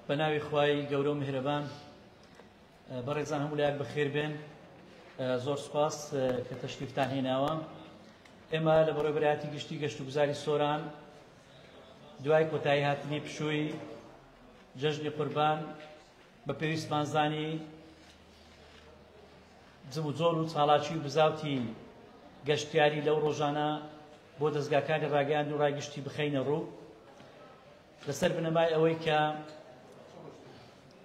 بە ناوی خوای گەورە و میهرەبان بەڕێزان هەموو لایەک بەخێر بێن زۆر سپاس کە تەشریفتان هێناوە ئێمە لە بەڕێبراتی گشتی گەشت و گوزاری سۆران دوای کۆتایی هاتنی پشووی جەژنی قوربان بە پێویستمانزانی زم و زۆر و چاڵاچی و بزاوتی گەشتیاری لەو ڕۆژانە بۆ دەستگاکانی ڕاگەیاند و ڕای گشتی بخەینە ڕوو لەسەر بنەمای ئەوەی کە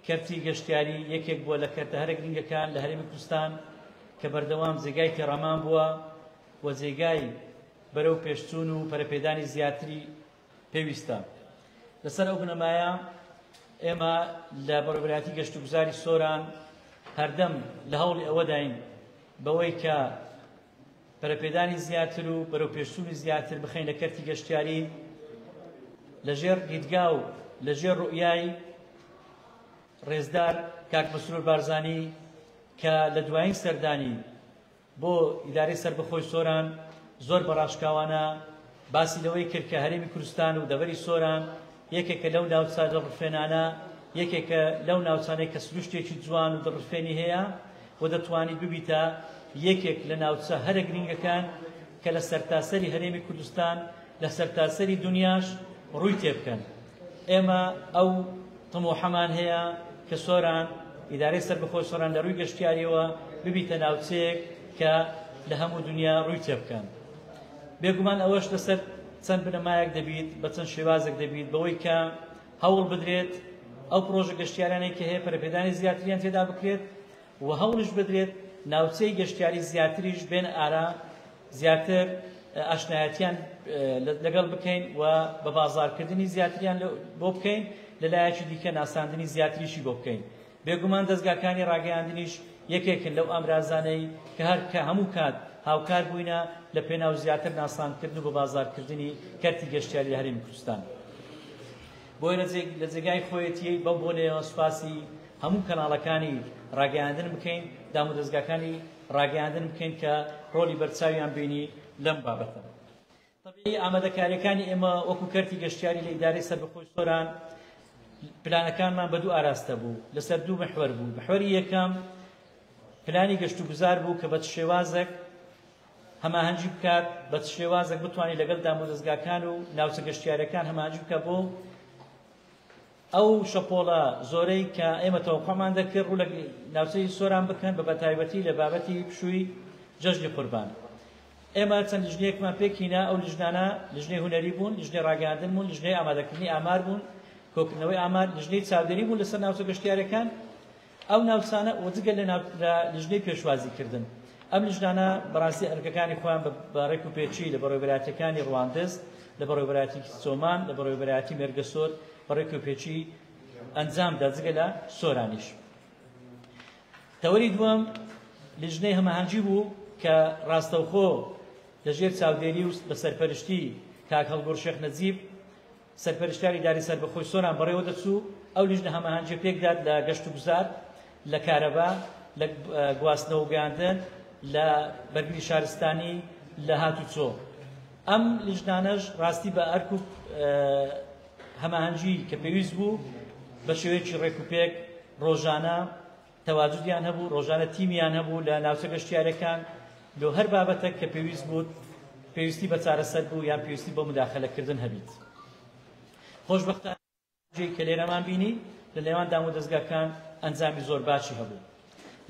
کەرتی گەشتیاری یەکێک بووە لە کەرتە هەرە گرنگەکان لە هەرێمی کوردستان کە بەردەوام جێگای تێڕامان بووە و جێگای بەرەو پێشچوون و پەرەپێدانی زیاتری پێویستە لەسەر ئەو بنەمایە ئێمە لە بەڕێوەبەرایەتی گەشت و گوزاری سۆران هەردەم لە هەوڵی ئەوەداین بەوەی کە پەرەپێدانی زیاتر و بەرەوپێشچوونی زیاتر بخەینە کەرتی گەشتیاری لەژێر دیدگا و لەژێر ڕوئیای ڕێزدار کاک مەسرور بارزانی کە لە دوایین سەردانی بۆ ئیدارەی سربەخۆی سۆران زۆر بە ڕاشکاوانە باسی لەوەی کرد کە هەرێمی کوردستان و دەڤەری سۆران یەکێکە لەو ناوچە دڵڕفێنانە، یەکێکە لەو ناوچانەی کە سروشتێکی جوان و دڵڕفێنی هەیە و دەتوانیت ببیتە یەکێک لە ناوچە هەرە گرنگەکان کە لە سەرتاسەری هەرێمی کوردستان لە سەرتاسەری دونیاش ڕووی تێبکەن ئێمە ئەو تموحەمان هەیە کە سۆران ئیدارەی سەربەخۆی سۆران لە ڕووی گەشتیاریەوە ببیتە ناوچەیەک کە لە هەموو دنیا ڕووی تێبکەن. بێگومان ئەوەش لەسەر چەند بنەمایەک دەبیت، بە چەند شێوازێک دەبیت، بەوەی کە هەوڵ بدرێت ئەو پڕۆژە گەشتیارانەی کە هەیە پەرەپێدانی زیاتریان تێدا بکرێت و هەوڵیش بدرێت ناوچەی گەشتیاری زیاتریش بێنە ئارا زیاتر ئاشنایەتیان لەگەڵ بکەین و بە بازاڕکردنی زیاتریان بۆ بکەین لەلایەکی دیکە ناساندنی زیاتریشی بۆ بکەین بێگومان دەزگاکانی ڕاگەیاندنیش یەکێکن لەو ئامرازانەی کە هەر کە هەموو کات هاوکار بووینە لە پێناو زیاتر ناساندکردن و بە بازاڕ کردنی کەرتی گەشتیاری لە هەرێمی کوردستان. بۆیە لە جێگای خۆیەتیی بەم بۆنەیەوە سوپاسی هەموو کەناڵەکانی ڕاگەیاندن بکەین، دامودەزگاکانی ڕاگەیاندن بکەین کە ڕۆڵی بەرچاویان بینی لەم بابەتە. تەبیعی ئامادەکاریەکانی ئێمە وەکو کەرتی گەشتیاری لە ئیدارەی سەربەخۆی سۆران پلانەکانمان بە دوو ئاراستە بوو لەسەر دوو محوەر بوو محوەری یەکەم پلانی گەشت و گوزار بوو کە بە شێوازێک هەماهەنگی بکات بە شێوازێک بتوانانی لەگەڵ دامودەستگاکان و ناوچە گەشتیارەکان هەماهنگی بکە بۆ ئەو شەپۆڵە زۆرەی کە ئێمە تەوەقوعمان دەکرد ڕوو لە ناوچەی سۆران بکەن بە بەتایبەتی لە بابەتی پشووی جەژنی قوربان ئێمە چەند لیژنەیەکمان پێکینا ئەو لیژنانە لیژنەی هونەری بوون لیژنەی ڕاگەیاندن بوون لیژنەی ئامادەکردنی ئامار بوون کۆکردنەوەی ئامار لیژنەی چاودێری بوون لەسەر ناوچە گەشتیارەکان ئەو ناوچانە و جگە لە لیژنەی پێشوازی کردن ئەم لیژنانە بەڕاستی ئەرکەکانی خۆیان بە ڕێک و پێچی لە بەڕێوەبەراتەکانی ڕواندز لە بەڕێوەبەراتی سۆمان لە بەڕێوەبەراتی مێرگەسۆر بە ڕێک و پێچی ئەنجامدا جگە لە سۆرانیش تەوەری دووەم لیژنەی هەمەهەنگی بوو کە ڕاستەوخۆ لەژێر چاودێری و بە سەرپەرشتی کاک هەڵگوڕ شێخ نەجیب سەرپەرشتیاری ئیدارەی سەربەخۆی سۆران بەڕێوە دەچوو، ئەو لیژنە هەماهەنگییە پێکدات لە گەشتوگوزار، لە کارەبا، لە گواستنەوە و گەیاندن، لە بەرگری شارستانی، لە هاتووچۆ. ئەم لیژنانەش ڕاستی بە ئەرک و هەماهەنگی کە پێویست بوو بە شێوەیەکی ڕێکوپێک ڕۆژانە تەواجودیان هەبوو ڕۆژانە تیمیان هەبوو لە ناوچە گەشتیارەکان لۆ هەر بابەتەک کە پێویست بوو پێویستی بە چارەسەر بوو یان پێویستی بۆ مداخلەکردن هەبیت خۆشبختان جێی کە لێرەمان بینی لە نێوان دام و دەستگاکان ئەنجامی زۆر باشی هەبوو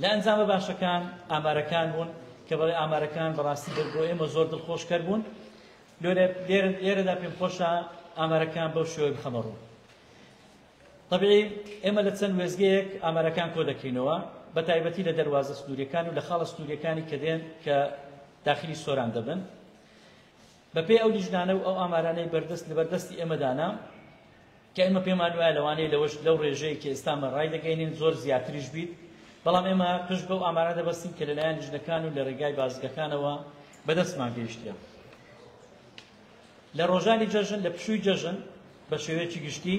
لە ئەنجامە باشەکان ئامارەکان بوون کە بەڵێ ئامارەکان بەڕاستی دەر بۆ ئێمە زۆر دڵخۆشکەر بوون لێرەدا پێم خۆشە ئامارەکان بەو شێوەی بخەمە ڕوو تەبیعی ئێمە لە چەند وێستگەیەک ئامارەکان کۆ دەکەینەوە، بە تایبەتی لە دەروازە سنوورییەکان و لە خاڵە سنوورییەکانی کە دێن کە داخلی سۆران دەبن. بەپێی ئەو لیژنانە و ئەو ئامارانەی بەردەست لەبەر دەستی ئێمەدانە کە ئێمە پێمان وایە لەوانەیە لەوەش لەو ڕێژەیە کە ئێستامە ڕای دەگەینین زۆر زیاتریش بیت، بەڵام ئێمە پشت بەو ئامارە دەبەستین کە لەلایەن لیژنەکان و لە ڕێگای بازگەکانەوە بەدەستمان گەیشتیە. لە ڕۆژانی جەژن لە پشووی جەژن بە شێوەیەکی گشتی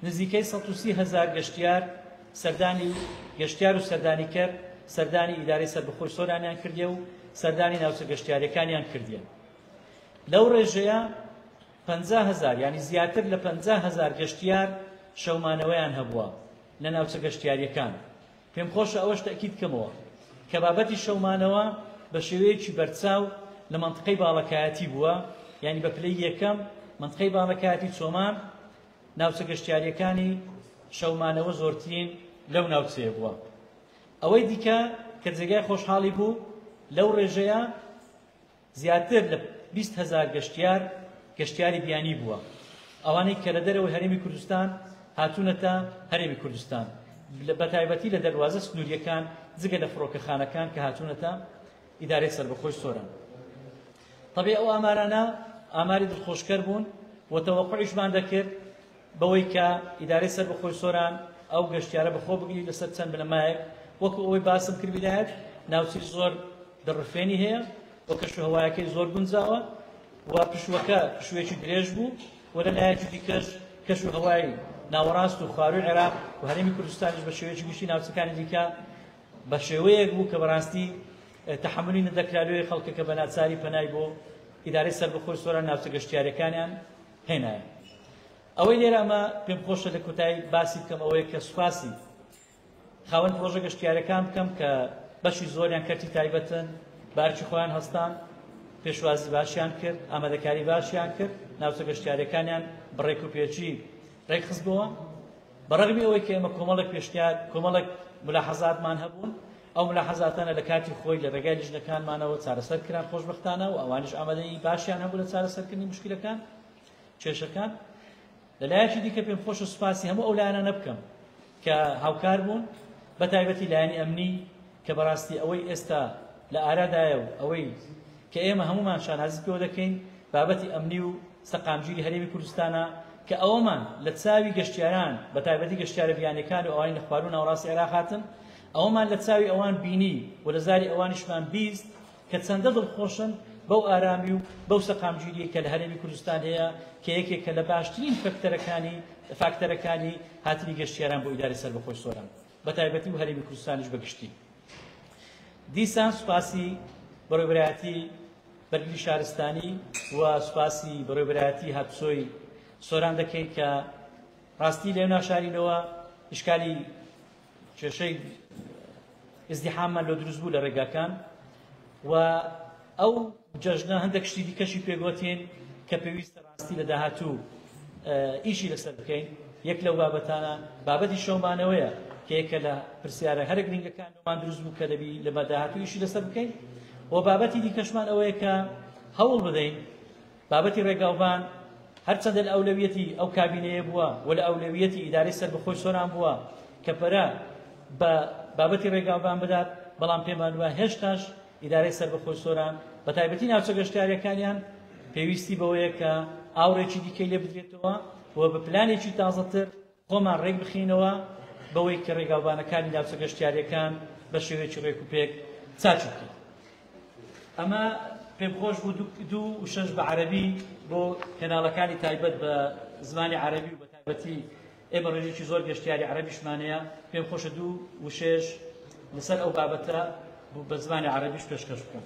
نزیکەی 130 هزار گەشتیار سەردانی گەشتیار و سەردانیکەر سەردانی ئیدارەی سەربخۆی سۆرانیان کردێ و سەردانی ناوچە گەشتیارەکانیان کردێن لەو ڕێژەیە پ هزار ینی زیاتر لە پ هزار گەشتیار شەومانەوەیان هەبووە لە ناوچە گەشتیاریەکان پێم خۆشە ئەوەش تەئکید بکەمەوە کە بابەتی شەو مانەوە بە شێوەیەکی بەرچاو لە مەنتقەی باڵەکایەتی بووە یانی بە پلەی یەکەم مەنتقەی باڵەکایەتی چۆمان ناوچە گەشتیاریەکانی شەومانەوە زۆرترین لەو ناوچەیە بووە ئەوەی دیکە کە جێگای خۆشحاڵی بوو لەو ڕێژەیە زیاتر لە بیست هەزار گەشتیار گەشتیاری بیانی بووە، ئەوانەی کە لە دەرەوەی هەرێمی کوردستان هاتوونەتە هەرێمی کوردستان، بەتایبەتی لە دەروازە سنوورییەکان، جگە لە فڕۆکەخانەکان کە هاتوونەتە ئیدارەی سەربەخۆی سۆران. تەبعی ئەو ئامارانە ئاماری دڵخۆشکەر بوون و تەوەقعیشمان دەکرد، بەوەی کە ئیدارەی سەربەخۆی سۆران ئەو گەشتیارە بەخۆ بگری لەسەر چەند بنەمایەک وەکو ئەوەی باسم کرد ویلایەت ناوچەی زۆر دڕفێنی هەیە و کەشوهەوایەکەی زۆر گونجاوە و پشوەکە پشوێکی درێژ بوو و لە لایەکی دیکەش کەش و هەوای ناوەڕاست و خواروی عێراق و هەرێمی کوردستانیش بە شێوەیەکی گشتی ناوچەکانی دیکە بە شێوەیەک بوو کە بەڕاستی تحملی نەدەکرالوێ خەڵکەکە بە ناچاری پەنای بۆ ئیدارەی سەربەخۆی سۆران ناوچە گەشتیارەکانیان هێنایە. ئەوەی لێرە مە پێم خۆشە لە کۆتایی باسی بکەم ئەوەیە کە سوپاسی خاوەن پرۆژە گەشتیارەکان بکەم کە بەشی زۆریان کەرتی تایبەتن بارکی خۆیان هەستان پێشوازی باشیان کرد ئامادەکاری باشیان کرد ناوچە گەشتیارەکانیان بڕێک و پێچی ڕێکخستبووە بە ڕەغمی ئەوەی کە ئێمە کۆمەڵێک پێشنیار کۆمەڵێک ملاحەزاتمان هەبوون ئەو ملاحەزاتانە لە کاتی خۆی لە ڕێگای لیژنەکانمانەوە چارەسەر کران خۆشببختانە و ئەوانش ئامادەی باشیان هەبوو لە چارەسەرکردنی مشکلەکان کێشەکان لەلایەکی دیکە پێم خۆشە سوپاسی هەموو ئەو لایەنانە بکەم کە هاوکار بوون بە تایبەتی لایەنی ئەمنی کە بەڕاستی ئەوەی ئێستا لە ئارادایە و ئەوەی کە ئێمە هەموومان شانازیت پێوە دەکەین بابەتی ئەمنی و سەقامگیری هەرێمی کوردستانە کە ئەوەمان لە چاوی گەشتیاران بە تایبەتی گەشتیارە بیانیەکان و ئەوانی لە خواروو ناوەڕاستی عێراق هاتن ئەوەمان لە چاوی ئەوان بینی و لە زاری ئەوانیشمان بیست کە چەندە دڵخۆشن بەو ئارامی و بەو سەقامگیری کە لە هەرێمی کوردستان هەیە کە یەکێکە لە باشترین فەکتەرەکانی فاکتەرەکانی هاتنی گەشتیاران بۆ ئیداری سەربەخۆی سۆران بەتایبەتی و هەرێمی کوردستانیش بەگشتی. دیسان سوپاسی بەڕێوەبەرایەتی بەرگری شارستانی و سوپاسی بەڕێوەبەرایەتی هاتسۆی سۆران دەکەین کە ڕاستی لێو ناشارینەوە ئشکالی کێشەی ئزدیحاممان لۆ دروست بوو لە ڕێگاکان و ئەو جەژنە هەندێک شتی دیکەشی پێگوتین کە پێویستە ڕاستی لە داهاتوو ئیشی لەسەر بکەین یەک لەو بابەتانە بابەتی شەومانەوەیە کە یەکە لە پرسیارە هەرە گرنگەکانمان دروست بوو کە دەبی لە بەداهاتوو ئیشی لەسەر بکەین و بابەتی دیکەشمان ئەوەیە کە هەوڵ بدەین بابەتی ڕێگاوبان هەرچەندە لە ئەولەویەتی ئەو کابینەیە بووە و لە ئەولەویەتی ئیدارەی سەربەخۆی سۆران بووە کە پەرە بە بابەتی ڕێگاوبان بدات بەڵام پێمان وایە هێشتاش ئیدارەی سەربەخۆی سۆران بە تایبەتی ناوچە گەشتیاریەکانیان پێویستی بەوەیە کە ئاوڕێکی دیکەی لێ بدرێتەوە و بە پلانێکی تازەتر خۆمان ڕێک بخەینەوە بەوەی کە ڕێگاوبانەکانی ناوچە گەشتیارییەکان بە شێوەیەکی ڕێکوپێک چاکی بکەین. ئەمە پێم خۆش بوو دوو وشەش بە عەرەبی بۆ کەناڵەکانی تایبەت بە زمانی عەرەبی و بە تایبەتی ئێمە ڕێژێکی زۆر گەشتیاری عەرەبیشمانەیە پێم خۆشە دوو وشێش لەسەر ئەو بابەتە بە زمانی عەرەبیش پێشکەش بکەم.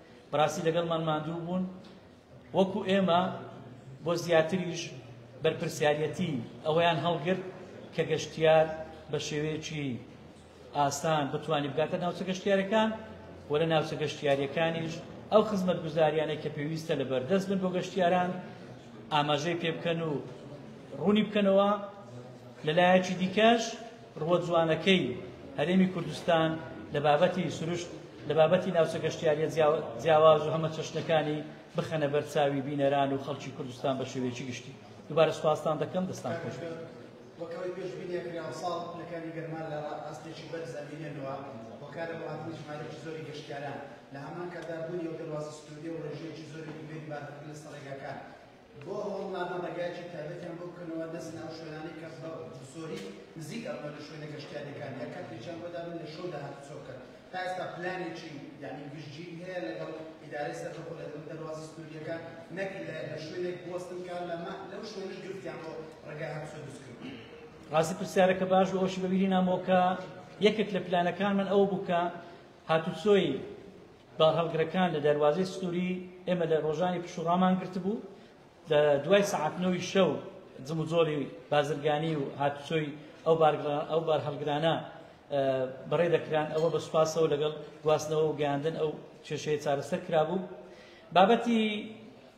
بەڕاستی لەگەڵمان ماندوو بوون وەکو ئێمە بۆ زیاتریش بەرپرسیارەتی ئەوەیان هەڵگرت کە گەشتیار بە شێوەیەکی ئاسان بتوانانی بگاتە ناوچە گەشتیارەکان و لە ناوچە گەشتیاریەکانیش ئەو خزمەت گوزاریانە کە پێویستە لە بەردەست بن بۆ گەشتیاران ئاماژەی پێ بکەن و ڕوونی بکەنەوە لەلایەکی دیکەش ڕووە جوانەکەی هەرێمی کوردستان لە بابەتی سروشت، لە بابەتی ناوچە گەشتیارییە جیاواز و هەمەچەشنەکانی بخەنە بەر چاوی بینەران و خەڵکی کوردستان بە شێوەیەکی گشتی. دووبارە سوپاستان دەکەم، دەستان خۆش بێت. وەک ئەوەی پێشبینیان کرا ئەمساڵ پلەکانی گەرما لە ئاستێکی بەرز ئەمێنێنەوە، هۆکارە بۆ هاتنی ژمارەیەکی زۆری گەشتیاران، لە هەمان کاتدا بوونی ئەو دەروازە سنوورییە و ڕێژەیەکی زۆری گومرگ بارهەڵگر لەسەر ڕێگاکان، بۆ ئەوە ماف بەرگایەکی تایبەتیان بۆ بکەنەوە نەچنە ئەو شوێنانەی کە بە زۆری نزیک ئەبنەوە لە شوێنە گەشتیارییەکان یا کاتێکیان بۆ دابن لە شەودا هاتوچۆ بکەن تا ئێستا پلانێکی یعنی گشتگیر هەیە لەگەڵ ئیدارەی سەربەخۆ لە دەم دەروازە سنوورییەکان نەک لە شوێنێک بوەستن کە لەمە لەو شوێنەش گرفتیان بۆ ڕێگای هاتوچۆ دروست کردووە ڕاستی پرسیارەکە باش بوو ئەوشی بەبیری نامەوە کە یەکێک لە پلانەکان من ئەوە بوو کە هاتوچۆی بارهەڵگرەکان لە دەروازەی سنووری ئێمە لە ڕۆژانی پشوو ڕامان گرتبوو، لە دوای سەعات نۆی شەو جموجۆڵی بازرگانی و هاتوچۆی ئەو بارهەڵگرانە بەڕێ دەکران، ئەوە بە سوپاسەوە لەگەڵ گواستنەوە و گەیاندن ئەو کێشەیە چارەسەر کرابوو. بابەتی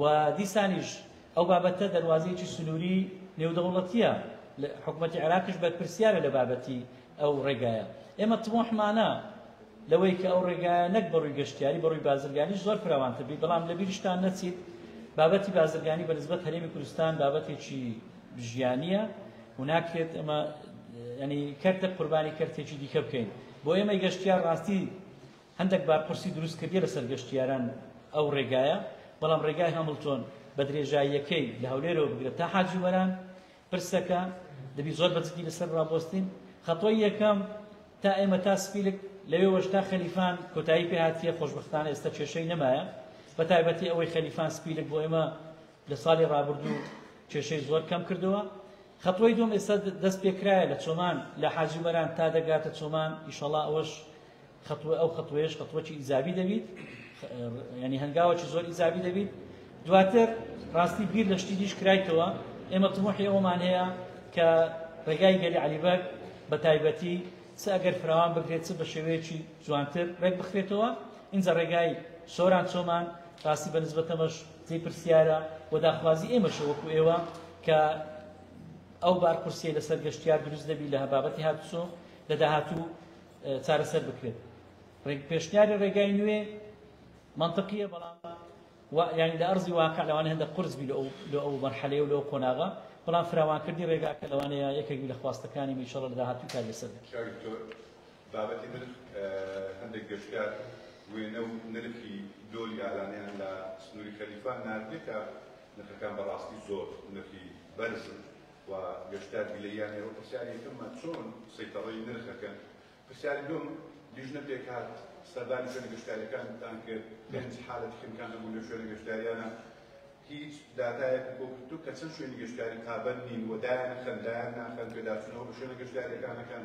و دیسانیش ئەو بابەتە دەروازەیەکی سنووری نێودەوڵەتییە، حکومەتی عێراقیش بەرپرسیارە لە بابەتی ئەو ڕێگایە. ئێمە تموحمانە لەوەی کە ئەو ڕێگایە نەک بە ڕووی گەشتیاری بە ڕووی بازرگانیش زۆر فراوانتر بی، بەڵام لە بیرشتان نەچیت بابەتی بازرگانی بە نسبەت هەرێمی کوردستان بابەتێکی ژیانیە و ناکرێت ئەمە ینی کەرتە قوربانی کەرتێکی دیکە بکەین بۆ ئێمەی گەشتیار ڕاستی هەندەک بارقورسی دروست کردیە لەسەر گەشتیاران ئەو ڕێگایە، بەڵام ڕێگای هەمڵتۆن بە درێژاییەکەی لە هەولێرەوە بگرە تا حاجی وەران پرسەکە، دەبی زۆر بە جدی لەسەر ڕابوەستین، خەتۆی یەکەم تا ئێمە تا سپیلک لەوێوەش تا خەلیفان کۆتایی پێ هاتیە، خۆشبەختانە ئێستا کێشەی نەمایە، بە تایبەتی ئەوەی خەلیفان سپیلک بۆ ئێمە لە ساڵی ڕابردوو کێشەی زۆر کەم کردوە، خەتۆی دووەم ئێستا دەست پێکرایە لە چۆمان لە حاجی وەران تا دەگاتە چۆمان ئیشەڵا ئەوەش خەتوە ئەو خەتوەیەش خەتوەکی ئیزابی دەبیت یعنی هەنگاوەکی زۆر ئیزابی دەبیت دواتر ڕاستی بیر لە شتی دیش کرایتەوە ئێمە تموحی ئەومان هەیە کە ڕێگای گەلی علیبەر بە تایبەتی چ ئەگەر فراوان بگرێت چ بە شێوەیەکی جوانتر ڕێک بخرێتەوە اینجا ڕێگای سۆران چۆمان ڕاستی بە نسبەتەمەش جێ پرسیارە و داخوازی ئێمەشە وەکو ئێوە کە ئەو بارپرسیە لەسەر گەشتیار دروست دەبی لە هەبابەتی هاتوچۆ لە داهاتوو چارەسەر بکرێت ڕێک پێشنیاری ڕێگای نوێ منطقیە بەڵام یعنی لە ئەرزی واقع لەوانە هەندە قرس بی لە ئەو مەرحەلەیە و لەو قۆناغە بەڵام فراوانکردنی ڕێگاکە لەوانەیە یەکێک لە خواستەکانی میشەڵ لە داهاتوو کار لەسەر بابەتی نرخ هەندێک گەشتیار وێنە و نرخی دۆلی ئالانیان لە سنووری خەلیفان ناردێتە نرخەکان بەڕاستی زۆر نرخی بەرزن و گەشتیار گلەیی یان ئێوە پرسیاری یەکەممان چۆن سەیتەڕەی نرخ ئەکەن؟ پرسیاری دووەم لیژنە پێکهات سەردانی شوێنە گەشتیاریەکانتان کرد پێنج حالەتی خنکان هەبوو لە شوێنە گەشتیاریانە هیچ داتایەک بۆ گرتو کە چەند شوێنی گەشتیاری پابەند نین و دایان خەن دایان ناخەن پێداچوونەوە بە شوێنە گەشتیاریەکانەکەن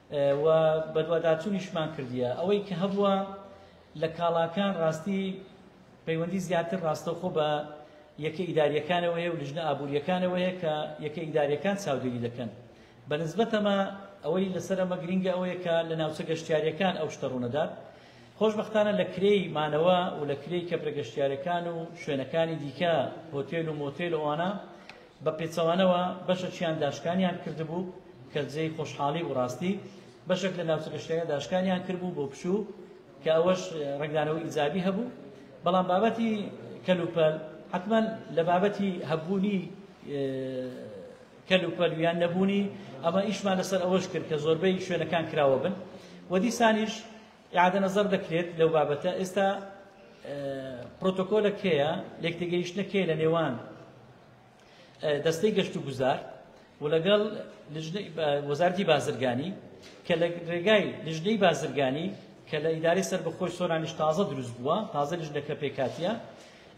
و بەدواداچوونیشمان کردیە ئەوەی کە هەبووە لە کاڵاکان ڕاستی پەیوەندی زیاتر ڕاستەوخۆ بە یەکە ئیداریەکانەوەیە و لژنە ئابوووریەکانەوەیە کە یەکە ئیداریەکان چاودێری دەکەن بە نسبەتەمە ئەوەی لەسەر ئەمە گرنگە ئەوەیە کە لە ناوچە گەشتیاریەکان ئەو شتە ڕوونەدات خۆشببختانە لە کرێی مانەوە و لە کرێی کەپرە گەشتیارەکان و شوێنەکانی دیکە هۆتێل و مۆتێل ئەوانە بە پێچەوانەوە بەشەکیان داشکانیان کردبوو کە جێی خۆشحاڵی و ڕاستی بەشێک لە ناوچە گەشتییەکە داشکانیان کردبوو بۆ پشوو کە ئەوەش ڕنگدانەوەی ئیجابی هەبوو بەڵام بابەتی کەلوپەل حتمما لە بابەتی هەبوونی کەلوپەل یان نەبوونی ئەمە ئیشمان لەسەر ئەوەش کرد کە زۆربەی شوێنەکان کراوە بن و دیسانیش ئیعادە نەزەر دەکرێت لەو بابەتە ئێستا پرۆتۆکۆلە کێیە لێکتێگەیشتە کێ لە نێوان دەستەی گەشت و گوزار و لەگەڵ وەزارتی بازرگانی کە لە ڕێگای لژنەی بازرگانی کە لە ئیداری سەر بەخۆی سۆرانیش تازە دروست بووە تازە لژنەکە پێکاتە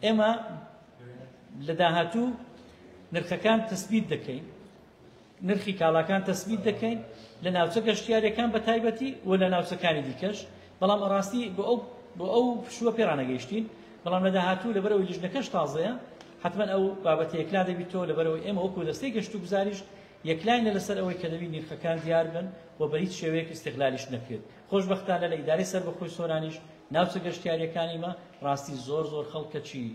ئێمە لە داهاتوو نرخەکان تەسبیت دەکەین نرخی کاڵاکان تەسبیت دەکەین لە ناوچە گەشتیارەکان بە تایبەتی و لە ناوچەکانی دیکەش بەڵام ئەڕاستی بۆ ئەو بۆ ئەو پشووە پێڕانەگەیشتین بەڵام لە داهاتوو لەبەرەوەی لیژنەکەش تازەیە حتمما ئەو بابەتە یەکلا دەبیتەوە لەبەرەوەی ئێمە وەکو دەستەی گەشت و گوزاریش یەکلاینە لەسەر ئەوەی کە دەبی نرخەکان دیار بن و بە هیچ شێوەیەک ئیستغلالیش نەکرێت خۆشببختانە لە ئیدارەی سەربەخۆی سۆرانیش ناوچە گەشتیاریەکانیمە ڕاستی زۆر زۆر خەڵکەچی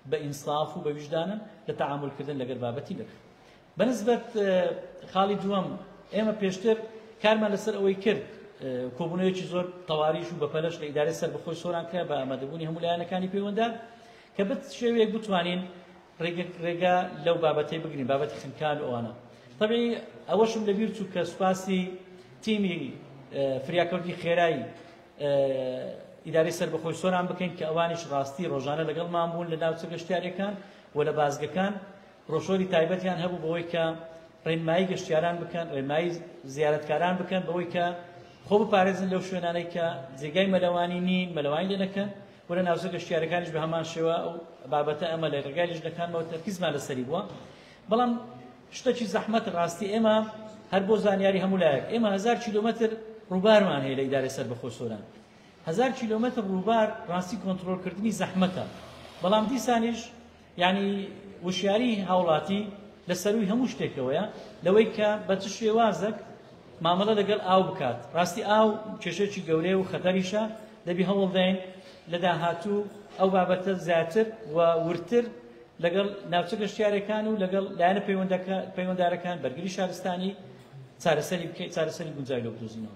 بە ئینساف و بە ویژدانن لە تەعاملکردن لەگەر بابەتی نرخ بەنسبەت خاڵی دووەم، ئێمە پێشتر کارمان لەسەر ئەوەی کرد کۆبوونەوەیەکی زۆر تەواریش و بەپەلەش لە ئیدارەی سەربەخۆی سۆران کرا بە ئامادەبوونی هەموو لایەنەکانی پەیوەندە کە بت شێوەیەک بتوانین ڕێگا لەو بابەتەی بگرین بابەتی خنکان و ئەوانە طبعی ئەوەشم لەبیر چوو کە سوپاسی تیمی فریاکەوتی خێرایی ئیداری سەر بەخۆی سۆران بکەین کە ئەوانیش ڕاستی ڕۆژانە لەگەڵمان بوون لە ناوچە گەشتارەکان و لە بازگەکان بڕۆشۆری تایبەتیان هەبوو بەوەی کە ڕێنمایی گەشتیاران بکەن ڕێنمایی زیارەتکاران بکەن بەوەی کە خۆ بپارێزن لەو شوێنانەی کە جێگای مەلەوانی نین مەلەوانی لێ نەکەن و لە ناوچە گەشتیارەکانیش بە هەمان شێوە ئەو بابەتە ئەمە لە ڕێگای لیژنەکانمەوە تەرکیزمان لەسەری بووە بەڵام شتەکی زەحمەت ڕاستی ئێمە هەر بۆ زانیاری هەموو لایەک ئێمە هزار کیلومتر ڕووبارمان هەیە لە ئیدارە سەر بەخۆ سۆران هزار کیلومتر ڕووبار ڕاستی کۆنتترۆلکردنی زەحمەتە بەڵام دیسانیش یانی وشیاری هاوڵاتی لە سەرووی هەموو شتێکەوەیە لەوەی کە بە چ شێوازەک مامەڵە لەگەڵ ئاو بکات ڕاستی ئاو کێشێکی گەورەیە و خەتەریشە دەبی هەوڵدەین لە داهاتوو ئەو بابەتە زیاتر و ورتر لەگەڵ ناوچە گەشتیارەکان و لەگەڵ لایەنە پەیوەندارەکان بەرگری شارستانی چارەسەری بکەیت چارەسەری گونجای لە بدۆزینەوە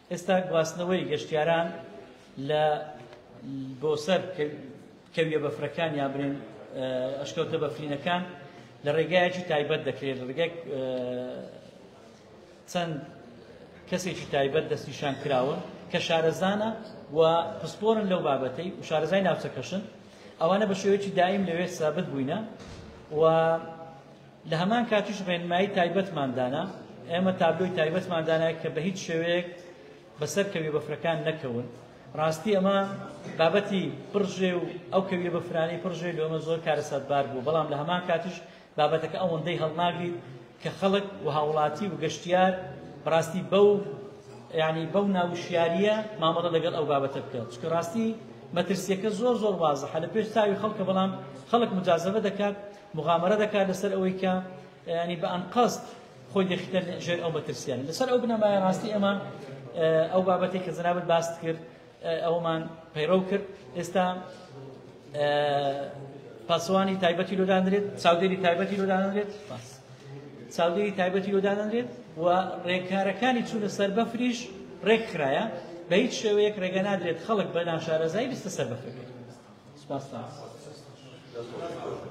ئێستا گواستنەوەی گەشتیاران لە بۆ سەر کەویە بەفرەکان یا برێن ئەشکەوتە بەفرینەکان لە ڕێگایەکی تایبەت دەکرێت لە ڕێگای چەند کەسێکی تایبەت دەستنیشان کراون کە شارەزانە و پسپۆرن لەو بابەتەی و شارەزای ناوچەکەشن ئەوانە بە شێوەیەکی دایم لەوێ سابت بووینە و لە هەمان کاتیش ڕێنمایی تایبەتمان دانا، ئێمە تابلۆی تایبەتمان دانا کە بە هیچ شێوەیەک بە سەر کەویە بەفرەکان نەکەون، ڕاستی ئەمە بابەتی پڕ ژێ و ئەو کەویە بەفرانەی پڕ ژێ لۆمە زۆر کارەساتبار بوو، بەڵام لە هەمان کاتیش بابەتەکە ئەوەندەی هەڵناگریت کە خەڵک و هاوڵاتی و گەشتیار بەڕاستی بەو یعنی بەو ناوشیاریە مامەڵە لەگەڵ ئەو بابەتە بکەن، چونکە ڕاستی مەترسیەکە زۆر زۆر وازحە لە پێش چاوی خەڵکە، بەڵام خەڵک مجازەبە دەکات، موغامەرە دەکات لەسەر ئەوەی کە ینی بە ئەنقەست خۆی دەخیتە ژێر ئەو مەترسییانە لەسەر ئەو بنەمایە ڕاستی ئەمە ئەو بابەتی کە جنابت باست کرد ئەومان پەیڕەو کرد ئێستا پاسوانی تایبەتی لۆدانرێت چاودێری تایبەتی لۆدانرێت پاس چاودێری تایبەتی لۆدانرێت و ڕێکارەکانی چوونە سەر بەفریش ڕێک خراە بە هیچ شێوەیەک ڕێگە نادرێت خەڵک بە ناشارەزایی بیستە سەر بەفرەکەی سپاس